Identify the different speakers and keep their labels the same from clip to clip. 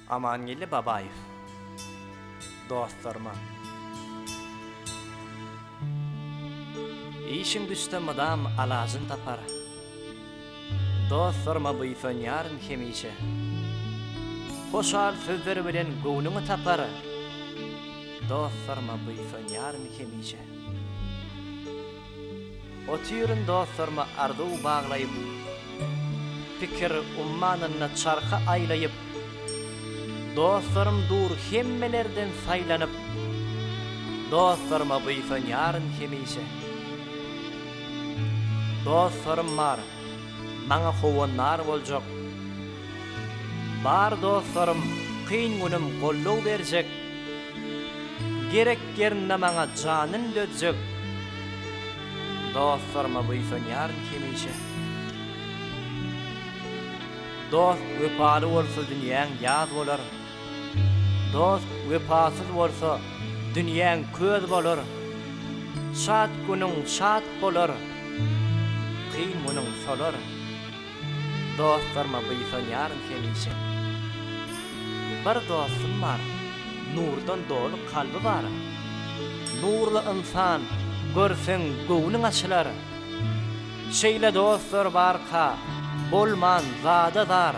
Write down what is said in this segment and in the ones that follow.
Speaker 1: Amangeldi Babaýew dostlaryma. Işiň düşse mydam alajyn tapar. Dostlaryma buýsanýaryn hemişe. Hoşal sözler bilen göwnüňi tapar. Dostlaryma buýsanýaryn hemişe. Otyryn dostlaryma arzuw baglaýyp, Pikir ummanynda çarhy aýlaýyp. Dostlarym dur hemmelerden saýlanyp, Dostlaryma buýsanýaryn hemişe. Dostlarym bar, maňa howanlar boljak. Bar dostlarym kyn günüm goldaw berjek Gerek ýerinde maňa janyn dözjek Dostlaryma buýsanýaryn hemişe Dost wepaly bolsa dünýäň ýaz bolar Dost wepasyz bolsa dünýäň köz bolar Şat günüň şat bolar kyn günüň solar Dostlaryma buýsanýaryn hemişe. Bir dostum bar, nurdan doly kalby bar. Nurly ynsan görseň göwnüň açylar. Şeýle dostlar barka, bolman zada zar.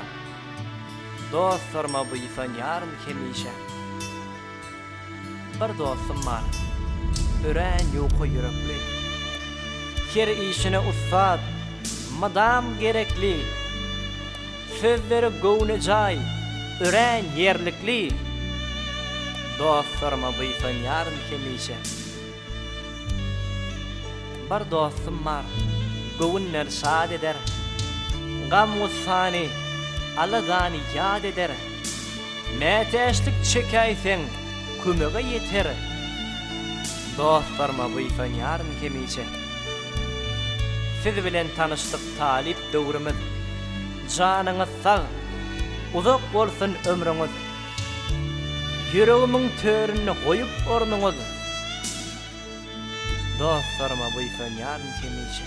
Speaker 1: Dostlaryma buýsanýaryn hemişe. Bir dostum bar, örän ýuka ýürekli, Her işine ussat, mydam gerekli, Sözleri göwnejaý, örän ýerlikli, Dostlaryma buýsanýaryn hemişe. Bir dostum bar, göwünleri şad eder, Gam-gussany, alagany ýat eder. Mätäçlik çekäýseň, kömege ýeter, Dostlaryma buýsanýaryn hemişe. Siz bilen tanyşdyk talyp döwrümiz, Janyňyz sag, uzak bolsun ömrüňiz! Ýüregimiň töründe goýup ornuňyz Dostlaryma buýsanýaryn hemişe.